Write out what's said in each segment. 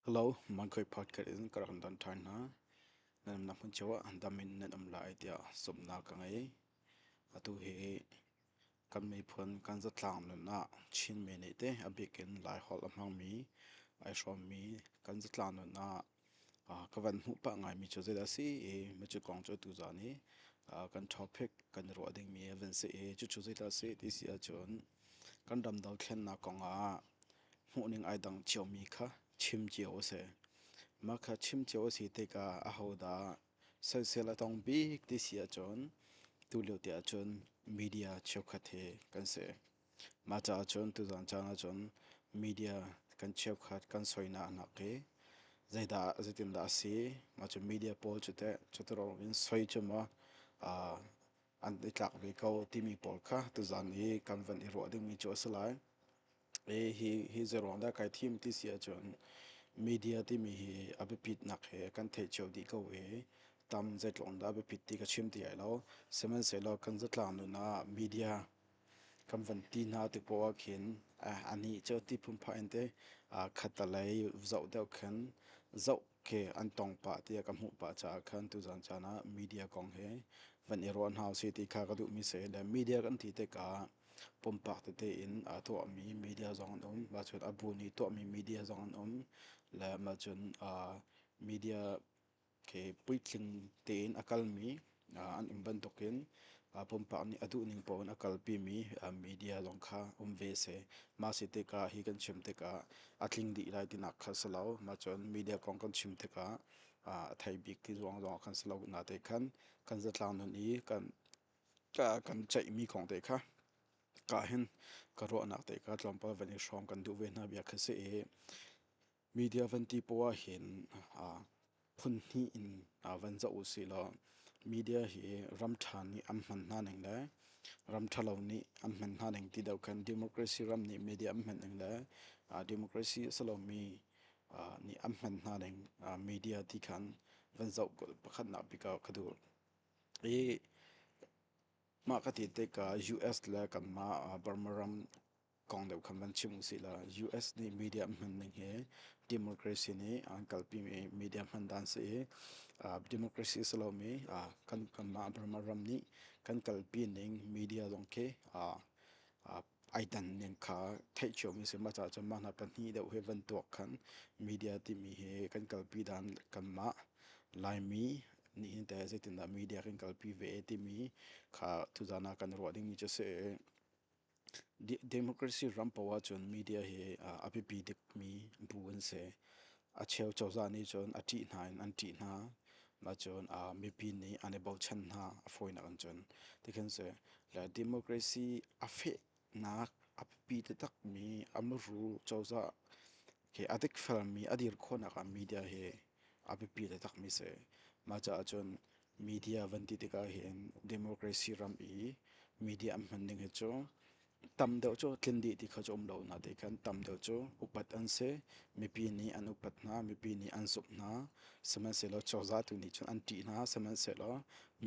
Hello, Mangkoi podcast in ka rak kan don ṭhan hna. Nan umnak hmun cio ah dam in nan um lai tiah zumhnak ka ngei. Atu hi kan miphun kan zatlang nun ah Chinmi nih te a bik in Laiholh a hmangmi ai hrawmmi kan zatlang nun ah ka van hmuh pah ngaimi cu zeidah a si i micu kong cu atu zaan hi kan topic kan ruah dingmi a van si i cucu zeidah a si ti si ahcun kan ram dothlennak kong ah hmuhning ai dang ciomi kha chim cio a si mah kha chim cio a si tikah ahodah sansel a tong bik ti si ahcun tulio tiah cun media cheukhat hi kan si Mah caah cun tuzaan caan ahcun media kan cheukhat kan soinak a hnak i zeidah zeitindah a si mah cu media pawl cu teh cutiruk in soi cu maw an i tlak ve ko timi pawl kha tuzaan i kan van i ruah dingmi cu a si lai. I hi hi zeiruang dah kai thim ti si ahcun media timi hi a biapitnak he kan theih cio dih ko i tam zeitluk in dah a biapit ti ka chim ti lai lo. Sihmanhsehlaw kan zatlang nun ah media kan van ti hna tu poh ah khin anih cu ti phunphah in teh khatalei zoh deuh khin zoh khi an tong pah tiah ka hmuh pah caah khan tuzan caan ah media kong hi van i ruah hna usih ti kha ka duhmi si le media kan ti tikah pumpak tete in aa tuahmi media zong an um mah cun a bu nih tuahmi media zong an um le mah cun media khi puitling tein a kalmi an um bantukin pumpak nih a duhning paoh in a kalpimi media zong kha um ve a si. Mah si tikah hi kan chim tikah a tling dih lai tinak kha si lo. Mah cun media kong kan chim tikah a thei bik ti zong zong kan si lo na te khan kan zatlang nun i kan kan ceihmi kong te kha ka hin ka ruahnak te kha tlawmpal van i hrawm kan duh ve hna bia kha si i Media van ti poh ah hin phun hnih in van zoh u sih law media hi ram ṭha nih an hman hna ning le ram ṭhalo nih an hman hna ning ti deuh khan democracy ram nih media an hman ning le democracy a si lomi nih an hman hna ning media ti khan van zoh pakhatnak bik ah ka duh. I mah ka ti tikah US le kanmah Burma ram kong deuh khan van chim usih la US nih media hman ning hi democracy nih an kalpi mi media hman dan si i democracy si lo mi kan kanmah Burma ram nih kan kalpi ning media zong khi ai dan ning kha theih cio mi si ma ca cun mah hna pahnih deuh hi van tuak khan media timi hi kan kalpi dan kanmah Laimi nih hin teh zeitindah media kan kalpi ve timi kha tuzana kan ruah ding mi cu si Democracy ram poh ahcun media hi a biapi dikmi bu an si. A cheu cozah nih cun a ṭih hna in an ṭih hna. Nacun mipi nih an i bochan hna a fawinak in cun. Tikhin si le democracy a fehnak a biapi taktakmi a muru cozah a dikfelmi a dir khawhnak ah media hi a biapi takmi a si. Mah caah cun media van ti tikah hin democracy ram i media an hman ding hi cu tam deuh cu tlin dih ti kha cu um lo na ti kan tam deuh cu upat an si mipi nih an upat hna mipi nih an zumh hna sihmanhsehlaw cozah tu nih cun an ṭih hna sihmanhsehlaw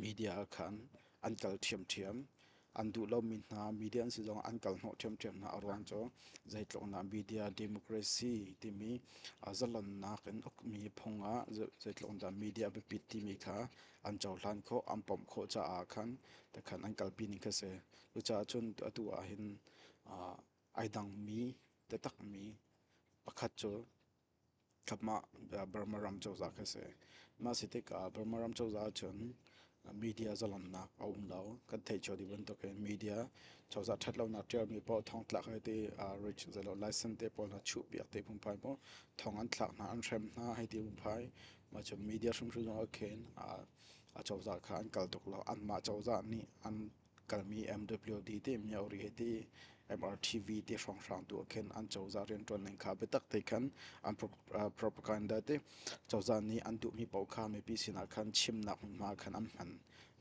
media ah khan an kal ṭhiamṭhiam an duh lomi hna media an si zong an kal hnawh ṭhiamṭhiam hna a ruang cu zeitluknak media democracy timi zalannak in ukmi phung ah zeitlukdah media biapit timi kha an cohlan khawh an pawmh khawh caah khan takhan an kalpi ning kha si cucaah cun atu ah hin ai dangmi taktakmi pakhat cu Thapmah Burma ram cozah kha si. Mah si tikah Burma ram cozah ahcun media zalamnak a um lo. Kan theih cio dih bantukin media cozah ṭhat lonak ṭialmi paoh thawng tlak hei ti rich zei lo license te pawl hna chuhpiak ti phungphai paoh thawng an thlak hna, an hrem hna hei ti phungphai. Mah cu media hrimhrim zong ahkhin a cozah kha an kal tuk lo. Anmah cozah nih an kalmi MWD te Myauri he te MRTV te hrawnghrang tu ah khin an cozah riantuan ning kha biatak te khan an propaganda te cozah nih an duhmi paoh kha mipi sinah khan chimnak hmunhma khan an hman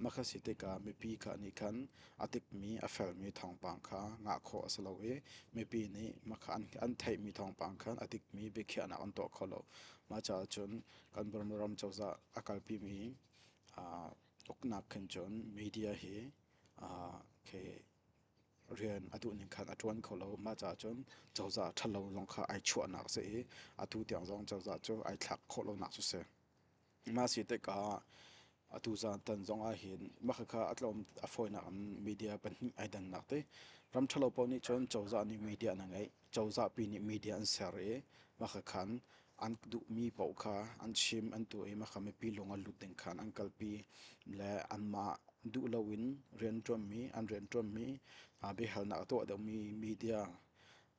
mah kha si tikah mipi kha nih khan a tikmi a felmi thawngpang kha ngah khawh a si lo i mipi nih mah kha an theihmi thawngpang khan a tikmi biakhiahnak an tuah kho lo mah caah cun kan Burma ram cozah a kalpimi uknak khin cun media hi khi rian a duh ning khan a ṭuan kho lo. Mah caah cun cozah ṭhalo zong kha ai chuahnak a si i atu tiang zong cozah cu ai thlak khawh lonak cu a si. Mah a si tikah atu zaantan zong ah hin mah khakha a tlawm a fawinak in media pahnih ai dannak ti. Ram ṭhalo paoh nih cun cozah nih media an ngeih. cozahpi nih media an ser i makha khan an duhmi paoh kha an chim an tuah i makha mipi lung a lut ding khan an kalpi le anmah duh loin rianṭuanmi an rianṭuanmi biahalnak a tuah deuhmi media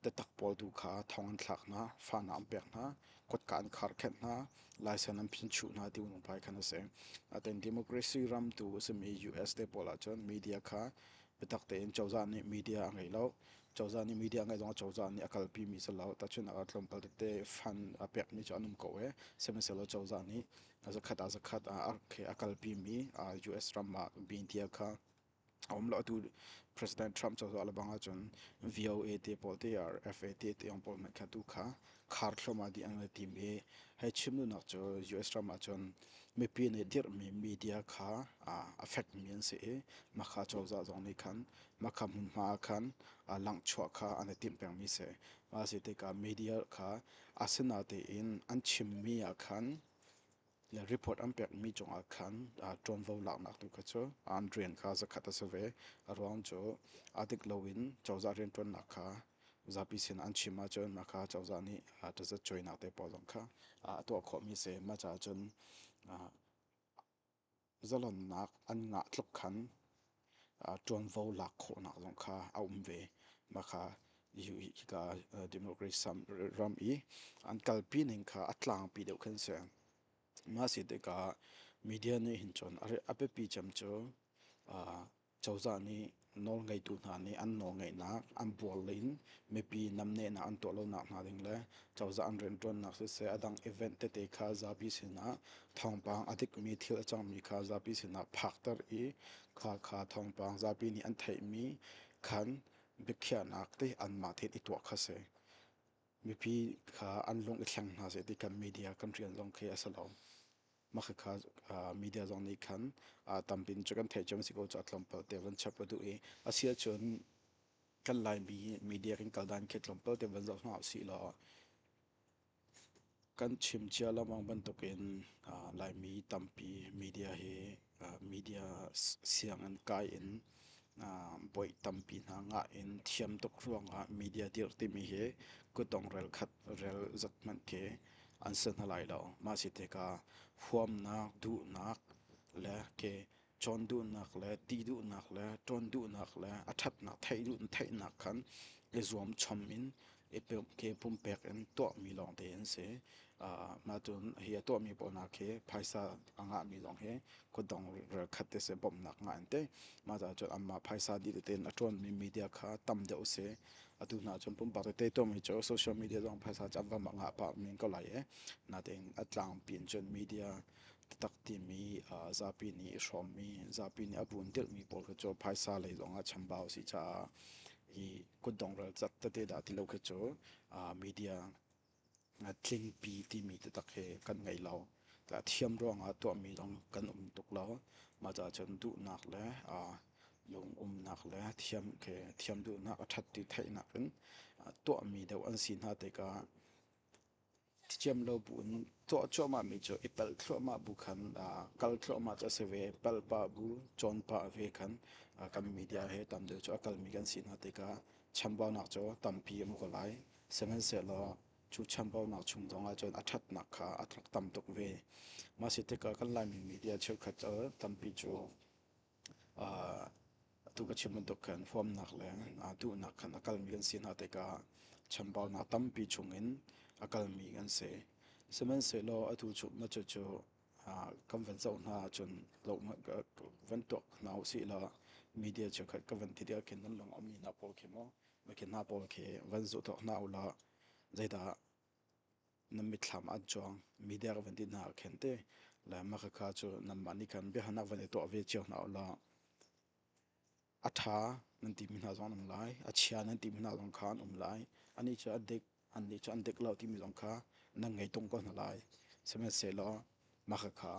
tatak pawl tu kha thong an thlak hna fana an pek hna kotka an kharkhenh hna laisen an phinchuh hna ti pai khan a si atin democracy ram tu a simi us te pawl ahcun media kha biatak tein cozah nih media a ngeih lo cozah nih media ngeih zong cozah nih a kalpi mi si lo tahchun a tlawmpal tete fan a pekmi cu an um ko e sihmanhsehlaw cozah nih zakhat ah zakhat ah a kalpi mi US ram ah media kha a um lo atu President Trump cozah le bang ahcun VOA te pawl te RFA te te yong pawl hmanh kha tu kha khar thluahmah dih an tim i hei chim duhnak cu US ram ahcun mipi nih dirhmi media kha a fekmi an si i mahka cozah zong nih khan mahka hmunhma ah khan langchuah kha an i timh pengmi si a si tikah media kha a si natein an chimmi ah khan Report an pekmi cungah khan ṭuanvo laknak tu kha cu an rian kha zakhat a si ve. A ruang cu a dik loin cozah rianṭuannak kha zapi sinah an chim ahcun mah kha cozah nih taza cuainak te pawl zong kha a tuah khawhmi a si. Mah caah cun Zalonnak an ngah tluk khan ṭuanvo lak khawhnak zong kha a um ve. Mah kha hika democracy ram i an kalpi ning kha a tlangpi deuh khan a si. Mah a si tikah media nih hin cun a biapi cem cu Cozah nih nawlngeitu hna nih an nawlngeihnak, an bualin mipi namnehnak an tuah lonak hna ding le cozah an rianṭuannak siseh a dang event tete kha zapi sinah thawngpang a dikmi thil a cangmi kha zapi sinah phakter i kha kha thawngpang zapi nih an theihmi khan biakhiahnak te anmah tein i tuah kha si. Mipi kha an lung i thleng hna seh ti kan media kan rian zong khi a si lo. mah kha media zong nih khan tampi in cu kan theih cem si ko cu tlawmpal te van chap a duh i a si ahcun kan laimi media kan kal dan khi tlawmpal te van zoh hna usih law kan chim cia lengmang bantuk in laimi tampi media hi media sianginn kai in Boih tampi hna ngah in thiam tuk ruangah media dirh timi hi kutdong relkhat rel zat hmanh khi an si hna lai lo. Mah si tikah huamnak, duhnak le ke cawn duhnak le ti duhnak le ṭawn duhnak le a ṭhatnak theih duhnak khan i zuamchom in i ke pumpek in tuahmi lawngte an si. Uh, cun hi a tuahmi pawl hna khi phaisa a ngahmi zong hi khuadong ralkhat te se bawmhnak ngah an tei. Mah caah cun anmah phaisa dih tein a ṭuanmi media kha tam deuh u si. Atu hna cun pumpak tete tuahmi cu social media zong phaisa cu an vam a ngah pah men ko lai i natein a tlangpi in cun media taktak timi uh, zapi nih hrawmmi zapi nih a bunh tirhmi pawl kha cu phaisa lei zong ah chambau si caah hi kutdong ralcat tete dah ti lo khi cu media tlingpi timi taktak hi kan ngei lo thiam ruangah tuahmi zong kan um tuk lo mah caah cun duhnak le lungumnak le thiam khi thiam duhnak a ṭhat ti theih nakin tuahmi deuh an si hna tikah Ṭhiṭhiam lo buin tuah cuahmahmi cu i palh thluahmah bu khan kal thluahmah cu a si ve. Palh pah bu, cawn pah ve khan kan media he tamdeuh cu a kalmi kan si hna tikah chambaunak cu tampi a hmu ko lai. Sihmanhsehlaw cu chambaunak chung zongah cun a ṭhatnak kha a tam tuk ve. Mah si tikah kan Laimi media cheukhat cu tampi cu atu ka chim bantuk khan fawmnak le duhnak khan a kalmi kan si hna tikah chambaunak tampi chungin a kalmi kan si. Sihmanhsehlaw atu chuknak cucu kan van zoh hna ahcun van tuak hna u sih law media cheukhat ka van ti tik ahkhin nan lung a mi hna pawl khi maw mi khi hna pawl khi van zuh tuak hna u law zeidah na mitthlam an cuang midek van ti hna khen te le makhakha cu nanmah nih khan biahalnak van i tuah ve cio hna u law a ṭha nan timi hna zong an um lai a chia nan timi hna zong kha an um lai anih cu a dik annih cu an dik lo timi zong kha nan ngei tung ko hna lai sihmanhsehlaw makhakha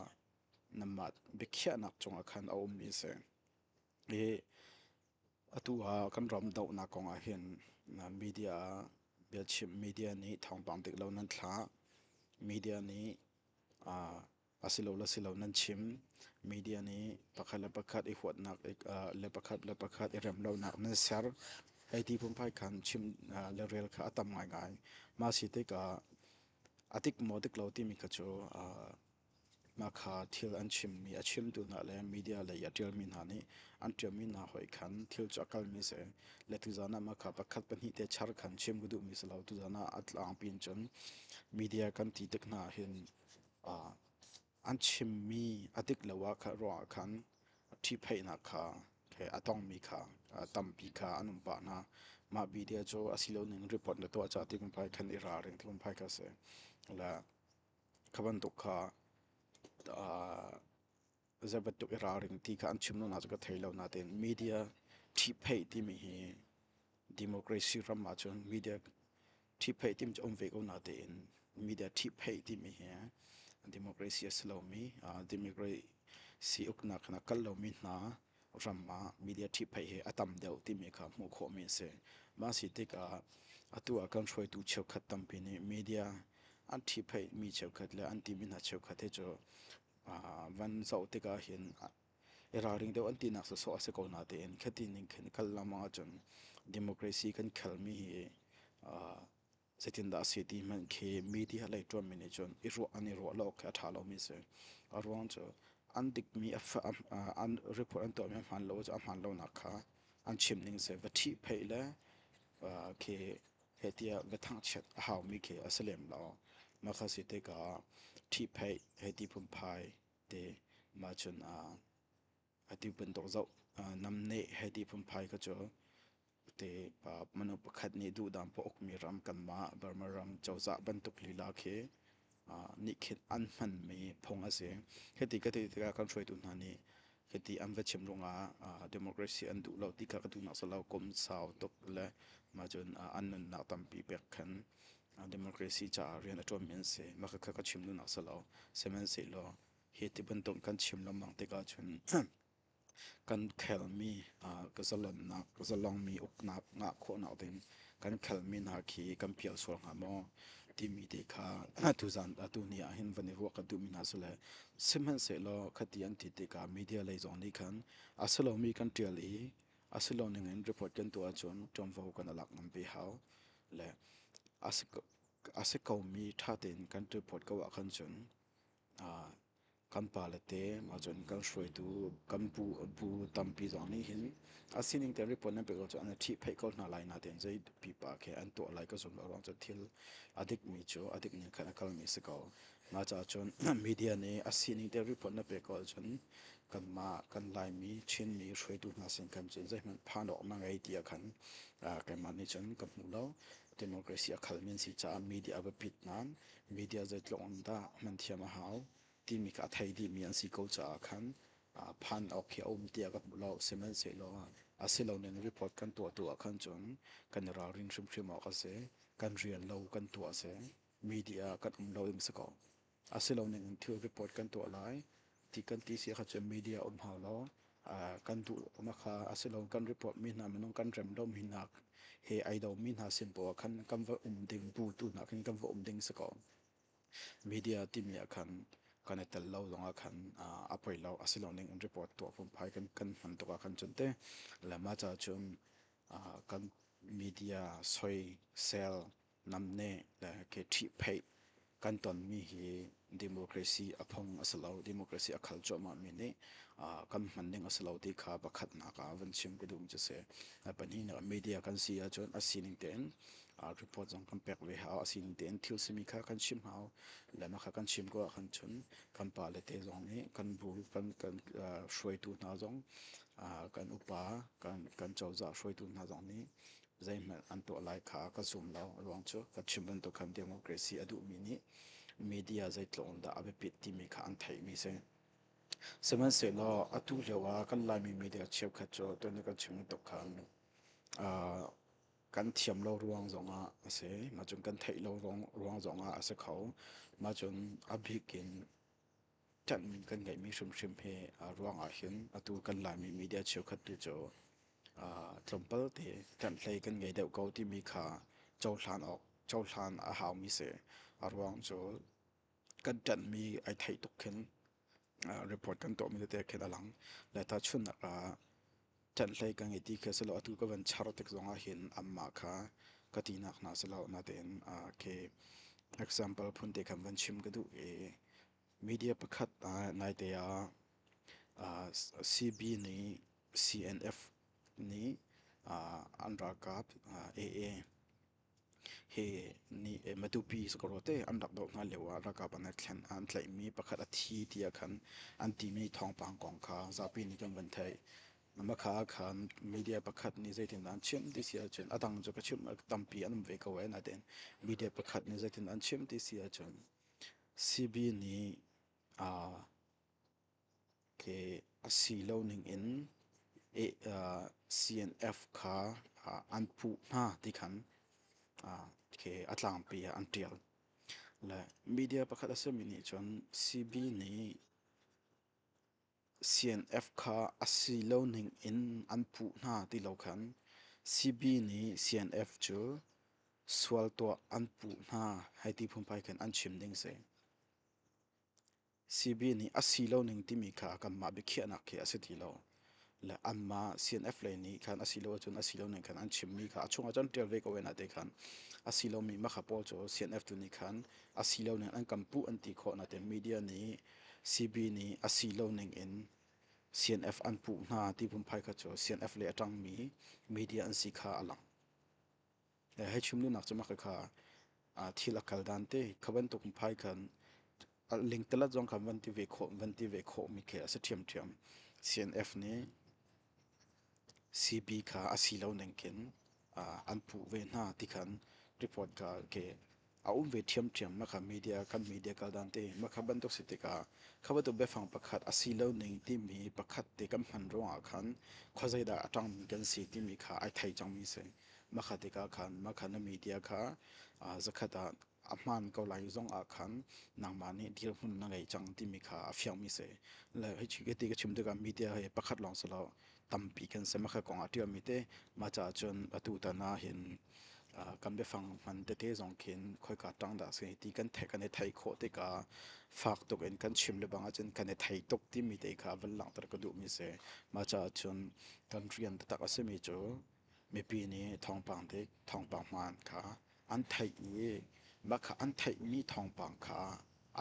nanmah biakhiahnak cungah khan a ummi a si i Atu ah kan ram dohnak kong ah hin media ah biachim media nih thawngpang dik lo nan thlah media nih a si lo le si lo nan chim media nih pakhat le pakhat i huatnak le pakhat le pakhat i rem lonak nan ser hei ti phunphai khan chim le rel kha a tam ngaingai mah a si tikah a dik maw dik lo timi kha cu Mah kha thil an chimmi a chimtu hna le media lei a ṭialmi hna nih an ṭialmi hna hoih khan thil cu a kalmi a si. Le tuzan ah mah kha pakhat pahnih te char khan chim ka duhmi a si lo. Tuzan ah a tlangpi in cun media kan ti tik hna ahhin aa an chimmi a dik lo ah kha ruangah khan ṭhipheihnak kha he a tongmi kha aa tampi kha an um pah hna. Mah media cu a si lo ning report na tuah caah ti lungphai khan i ralring ti lungphai kha a si. Le Kha bantuk kha zei bantuk i ralring ti kha an chim lo na cu ka thei lo natein media ṭhihpheih timi hi democracy ram ahcun media ṭhihpheih timi cu um ve ko natein media ṭhihpheih timi hi democracy a si lomi democracy uknak kha na kal lomi hna ram ah media ṭhiphaih hi a tam deuh timi kha hmuh khawhmi a si. Mah si tikah atu ah kan hruaitu cheukhat tampi nih media an ṭhiphaih mi cheukhat le an timi hna cheukhat hi cu van zoh tikah hin i ralring deuh an tinak sawsawh a si ko natein khati ning khin kal lengmang ahcun democracy kan khelmi hi Zeitindah a si ti hmanh khi media lei ṭuanmi nih cun i ruah an i ruah lo khi a ṭha lomi a si. A ruang cu an dikmi an report an tuahmi a hmaan lo cu a hmaan lonak kha an chim ning si. Va ṭhihpheih le khi hehtiah va thangchiat a haumi khi a si lem lo. Mah kha si tikah ṭhihpheih, hehti phunphai ti mah cun ati bantuk zoh namneh he ti phunphai ka cu te manu pakhat nih duhdang pa ukmi ram kanmah Burma ram cozah bantuk lila khi nih khin an hmanmi phung a si hiti ka ti tikah kan hruaitu hna nih hiti an va chim rungah democracy an duh lo ti kha ka duhnak salo kum sau tuk le mah cun an nunnak tampi pek khan democracy caah rian a ṭuanmi an si mah kha ka chim duhnak salo sihmanhsehlaw Hi ti bantuk kan chim lengmang tikah cun kan khelmi ka zalonnak, ka zalongmi uknak ngah khawhnak ding kan khelmi hna khi kan pial sual hnga maw timi te kha tuzan tuni ah hin van i ruah ka duhmi hna sule sihmanhsehlaw khati an ti tikah media lei zong nih khan a si lomi kan ṭial i a si lo ningin report kan tuah ahcun ṭuanvo kan i lak ngam ve hau le a si komi ṭha tein kan report ko ahkhan cun kan pale te ahcun kan hruaitu kan bu tampi zong nih hin a sining te report nan pek lo cun an i ṭhihpheih ko hna lai natein zei pipa khi an tuah lai ka zum lo ruang cu thil a dikmi cu a dik ning khan a kalmi si ko mah caah cun media nih a sining te report na pek ahcun kanmah kan laimi chinmi hruaitu hna sin kan cun zeihmanh phan awk na ngei tiah khan keimah nih cun ka hmu lo democracy a khalmi an si caah media a biapit nain Media zeitluk in dah hman thiam a hau timi kha a thei dihmi an si ko caah khan phan awk hi a um tiah ka hmuh lo. Sihmanhsehlaw a si lo ning report kan tuahtu ah khan cun kan i ralrin hrimhrim awk a si. Kan rian lo kan tuah a si. Media kan um lo ding a si ko. A si lo ning in thil report kan tuah lai Ti kan ti si kha cu media um hau lo. Kan duhlonak kha a si lo. Kan reportmi hna minung kan rem lomi hna he ai domi hna sin poah khan kan va um ding bu tu hna khin kan va um ding si ko. Media timi ah khan kan i tel lo zong ah khan a poi lo. A si lo ning in report tuah fum phai kan kan hman tuk ah khan cun te. Le mah ca cun kan media soi, sel, namneh le ke ṭhihpheih kan tonmi hi democracy a phung a si lo democracy a khal cuahmahmi nih kan hman ding a si lo ti kha pakhatnak ah van chim ka duh mi cu si pahnihnak media kan si ahcun a sining tein report zong kan pek ve hau a sining tein thil simi kha kan chim hau le nakha kan chim ko ahkhan cun kan pa le te zong nih kan bu kan kan hruaitu hna zong kan upa kan kan cozah hruaitu hna zong nih zeihmanh an tuah lai kha ka zum lo. Ruang cu ka chim bantuk khan democracy a duhmi nih media zeitluk in dah a biapit timi kha an theihmi si. Sihmanhsehlaw atu lio ah kan Laimi media cheukhat cu tuan kan chim bantuk khan uh, kan thiam lo ruang zongah a si. Mah cun kan theih lo ruang, ruang zongah a si kho. Mah cun a bik in ṭanhmi kan ngeihmi hrimhrim hi a ruang ahhin atu kan Laimi media cheukhat tu cu tlawmpal te ṭanhhlei kan ngei deuh ko timi kha cohlan awk cohlan a haumi si. A ruang cu kan ṭanhmi ai theih tuk khin report kan tuahmi tete khin a lang. Le ta chunnak ah ṭanhhlei ka ngei ti khi a si lo. Atu ka van char tik zongah hin amah kha ka tinak hna si lo, natein uh, khi example phunte khan van chim ka duh i media pakhat uh, naite ah uh, CB nih CNF nih uh, an ralkap uh, AA hi ni Matupi sakawr te an rak doh hna lio ah ralkap an thlen an tlaihmi pakhat a thi tiah khan an timi thawngpang kong kha zapi nih kan van theih makha ah khan media pakhat nih zeitindah an chim ti si ahcun a dang cu ka chimh tampi an um ve ko ai nain media pakhat nih zeitindah an chim ti si ahcun CB nih aa khi a si lo ningin CNF kha an puh hna ti khan khi a tlangpi ah an ṭial. Le media pakhat a simi nih cun CB nih CNF kha a si lo ningin an puh hna ti lo khan CB nih CNF cu sual tuah an puh hna hei ti phunphai khin an chim ding a si. CB nih a si lo ning timi kha kanmah biakhiahnak khi a si ti lo. Le anmah CNF lei nih khan a si lo ahcun a si lo ning khan an chimmi kha a chungah cun ṭial ve ko ve na te khan a si lomi makha pawl cu CNF tu nih khan a si lo ning an kan puh an ti khawh na te media nih CB nih a si lo ning in CNF an puh hna ti phunphai kha cu CNF le a ṭangmi media an si kha a lang. hei chimlunak cu maka kha thil a kal dan te kha bantuk phai khan ling telat zong khan van ti ve khawh van ti ve khawh mi khi a si ṭhiam ṭhiam CNF nih CB kha a si lo ning kin an puh ve hna ti khan report ka ke a um ve ṭhiamṭhiam. Makha media, kan media kaldan te. Makha bantuk si tikah kha bantuk biafang pakhat a si lo ning timi pakhat te kan hman ruangah khan khuazeidah a ṭangmi kan si timi kha ai thei cangmi si. Makha tikah khan makha na media kha aa zakhat ah a hmaan ko lai zongah khan nangmah nih dirhmun na ngei cang timi kha a fiangmi si. Le hi ti ka chim tikah media hi pakhat lawng si lo tampi kan sem a kong a ṭialmi te mah caah cun atu tan ah hin kan biafang hman tete zong khin khoika ṭang dah a si ti kan theih kan i theih khawh tikah fak tuk in kan chim le bang ahcun kan i thei tuk timi te kha van langhter ka duhmi a si mah caah cun kan rian taktak a simi cu Mipi nih thawngpang dik thawngpang hmaan kha an theih i mah kha an theihmi thawngpang kha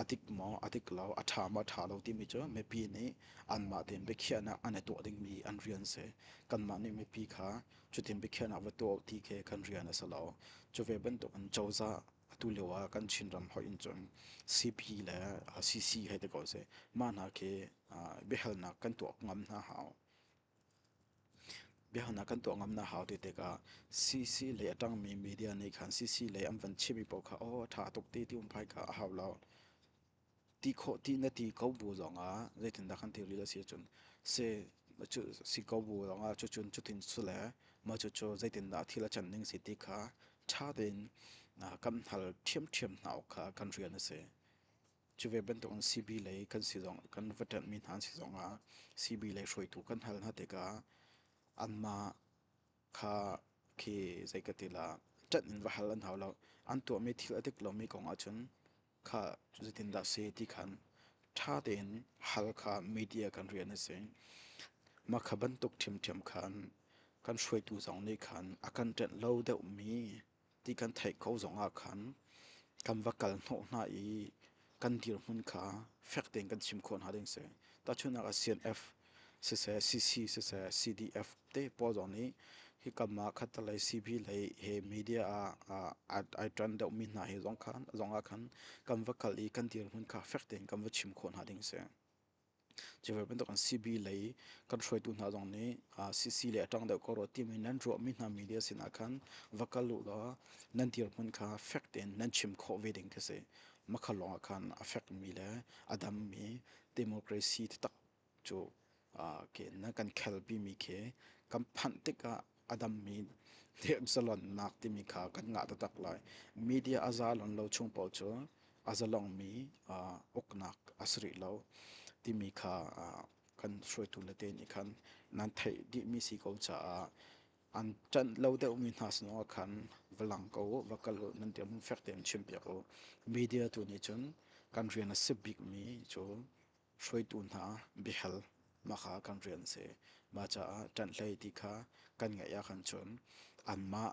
a dik maw a dik lo a ṭha maw a ṭha lo timi cu mipi nih anmah tein biakhiahnak an i tuah dingmi an rian a si kanmah nih mipi kha cutin biakhiahnak va tuah u ti khi kan rian a si lo cu ve bantukin cozah atu lio ah kan chinram hoih in cun cp le cc hei ti ko seh mah hna khi biahalnak kan tuah ngam hna hau Biahalnak kan tuah ngam na hau ti tikah CC lei a ṭangmi media nih khan CC lei an van chimmi paoh kha aw ṭha tuk ti ti um phai kha a hau lo. Ti khawh ti na ti ko bu zongah zeitindah kan ti rih a si ahcun se cu si ko bu zongah cucun cutin cu le maw cucu zeitindah thil a can ning si ti kha ṭha tein kan hal ṭhiamṭhiam hna awk kha kan rian a si. Cu ve bantukin CB lei kan si zong kan va ṭanhmi hna an si zongah CB lei hruaitu kan hal hna tikah anmah kha khi zei ka ti la ṭanh in va hal an hau lo. An tuahmi thil a dik lomi kong ahcun kha zeitindah si ti khan ṭha tein hal kha media kan rian a si. Mah kha bantuk ṭhimṭhiam khan kan hruaitu zong nih khan a kan ṭanh lo deuhmi ti kan theih ko zongah khan kan va kal hnawh hna i kan dirhmun kha fek tein kan chim khawh hna ding si. Tahchunhnak ah CNF siseh, CC siseh, CDF te pawl zong nih hi kam ah khatalei CB lei he media ah ai ṭan deuhmi hna he zong khan zongah khan kan va kal i kan dirhmun kha fek tein kan va chim khawh hna ding si. Cuvel bantuk an CB lei kan hruaitu hna zong nih CC le a ṭang deuh ko rua timi nan ruahmi hna media sinah khan va kal u law nan dirhmun kha fek tein nan chim khawh ve ding khi si. Makhal lawngah khan a fekmi le a dammi democracy taktak cu ke nan kan khelpimi khi kan phanh tikah a dammi thiamsalonnak timi kha kan ngah taktak lai. Media a za lon lo chung paoh cu a zalongmi uh, uknak a si rih lo timi kha uh, kan hruaitu le te nih khan nan theih dihmi si ko caah an tan lo deuhmi hna sinah khan valang ko va kal u nan tiam fek tein chim piak u media tu nih cun kan rian a si bikmi cu hruaitu hna biahal mahka kan rian a si. Mah caah ṭanhlei ti kha kan ngaih ahkhan cun anmah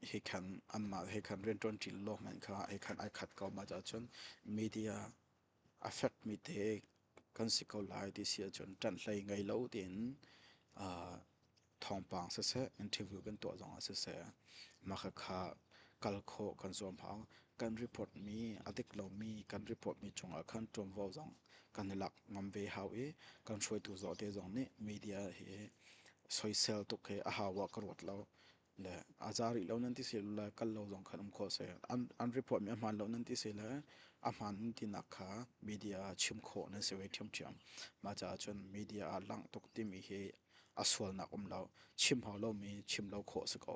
he khan anmah he khan rianṭuanṭi law hmanh kha he khan ai khat ko. Mah caah cun media a fekmi te kan si ko lai ti si ahcun ṭanhlei ngei lo tiin aa thawngpang siseh interview kan tuah zong ah siseh mah khakha kal khawh kan zuam hang kan report mi a dik lomi kan report mi chung ah khan ṭuanvo zong kan i lak ngam ve hau i kan hruaitu zaw te zong nih media hi soisel tuk hi a hau ah ka ruat lo le a za rih lo nan ti si le kal lo zong khan um kho se an an report mi a hman lo nan ti si le a hman nan ti nak kha media chim khawh nan si ve ṭhiam ṭhiam ma caah cun media a lang tuk timi hi a sualnak um lo chim hau lomi chim lo khawh si ko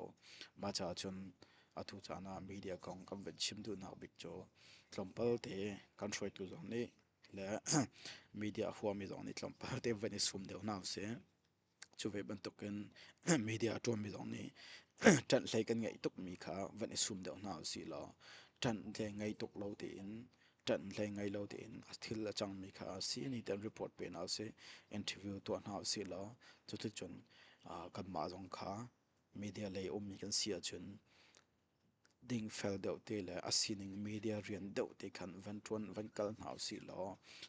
mah caah cun atu caan ah media kong kan van chim duhnak bik cu tlawmpal te kan hruaitu zong nih le media a huami zong nih tlawmpal te van i sum deuh hna usih cu ve bantukin media a ṭuanmi zong nih ṭanh hlei kan ngeih tukmi kha van i sum deuh hna usih law ṭanh hlei ngei tuk lo tein ṭanh hlei ngei lo tein a thil a cangmi kha a si ni tiang report penak a si interview tuah hna usih law cuticun kanmah zong kha media lei ummi kan si ahcun ding fel deuh te le a sining media rian deuh te khan van ṭuan van kal hna usih law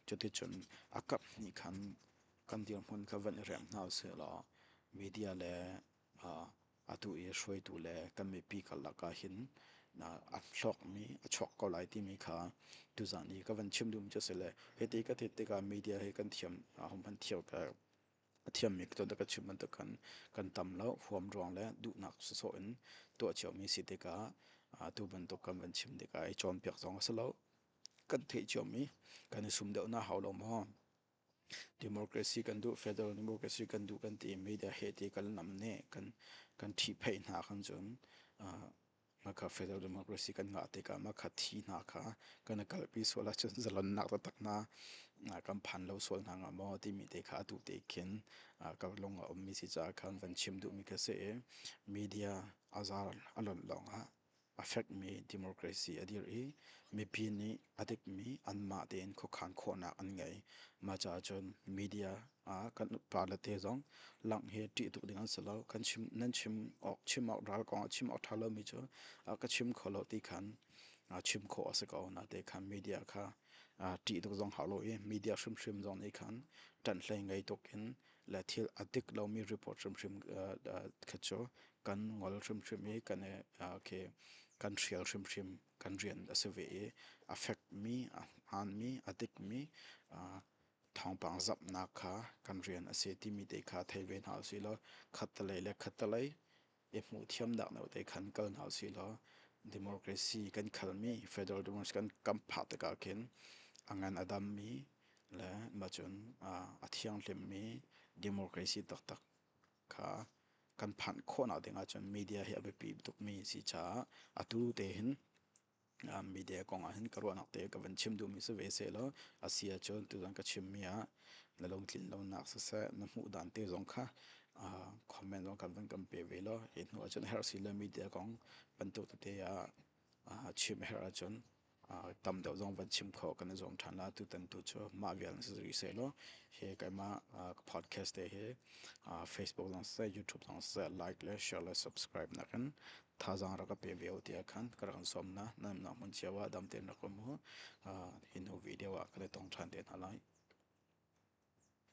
cuticun a kap hnih khan kan dirhmun kha van i rem hna usih law media le Atu i hruaitu le kan mipi karlak ah hin a hlawkmi a chuak ko lai timi kha tuzaan i ka van chim duhmi cu a si le hiti ka theih tikah media he kan thiam ahom han thiam a thiammi tuan ka chim bantuk khan kan tam lo huam ruang le duhnak sawsawh in tuah ciami si tikah tu bantuk kan van chim tikah i cawnpiak zong a si lo kan theih ciomi kan i sum deuh na hau lo maw Democracy kan duh, federal democracy kan duh kan ti. Media he ti kan nam ne kan ṭhihpheih hna kan cun makha federal democracy kan ngah tikah makha thi hna kha kan i kalpi sual ahcun zalonnak taktak hna kan phan lo sual hna hnga maw timi te kha a duh tek khin ka lung a ummi si caah khan van chim duhmi ka si i media a zaar a lonh lawng ah a fekmi democracy a dir i mipi nih a dikmi anmah tein khuakhan khawhnak an ngei. Mah caah cun media ah kan pa le te zong langh hi ṭih tuk ding an si lo. Kan chim nan chim awk chim awk ral kong ah chim awk ṭha lomi cu a ka chim kho lo ti khan a chim khawh a si ko. Nate khan media kha ṭih tuk zong hau lo i media hrimhrim zong nih khan ṭanhhlei ngei tuk in le thil a dik lomi report hrimhrim kha cu kan ngol hrimhrim i kan okay, kan hrial hrimhrim kan rian a si ve i a fekmi a hmaanmi a dikmi thawngpang zapnak kha kan rian a si timi te kha thei ve hna usihlaw khattelei le khattelei i hmuh thiamnak note khan kal hna usih law democracy kan khalmi federal democracy kan kan phah tikah khin a ngan a dammi le macun a thianghlimmi democracy taktak kha kan phanh khawhnak ding ahcun media hi a biapi tukmi a si caah atu te hin media kong ah hin ka ruahnak te ka van chim duhmi si ve sehlaw a si ahcun tuzan ka chimmi ah na lungtlin lonak siseh na hmuh dan te zong kha comment zong kan van kan pe ve law hi hnu ahcun herh si le media kong bantuk tete ah chim a herh ahcun tam deuh zong van chim khawh kan i zuam ṭhan la tutan tu cu mah vial si rih sehlaw hi keimah podcast te hi facebook zong siseh youtube zong siseh like le share le subscribe nakin thazaang rak ka pe ve u tiah khan ka rak in sawm hna. Nanmah hmun cio ah dam tein rak um u. Hi hnu video ah ka le tong ṭhan te hna lai.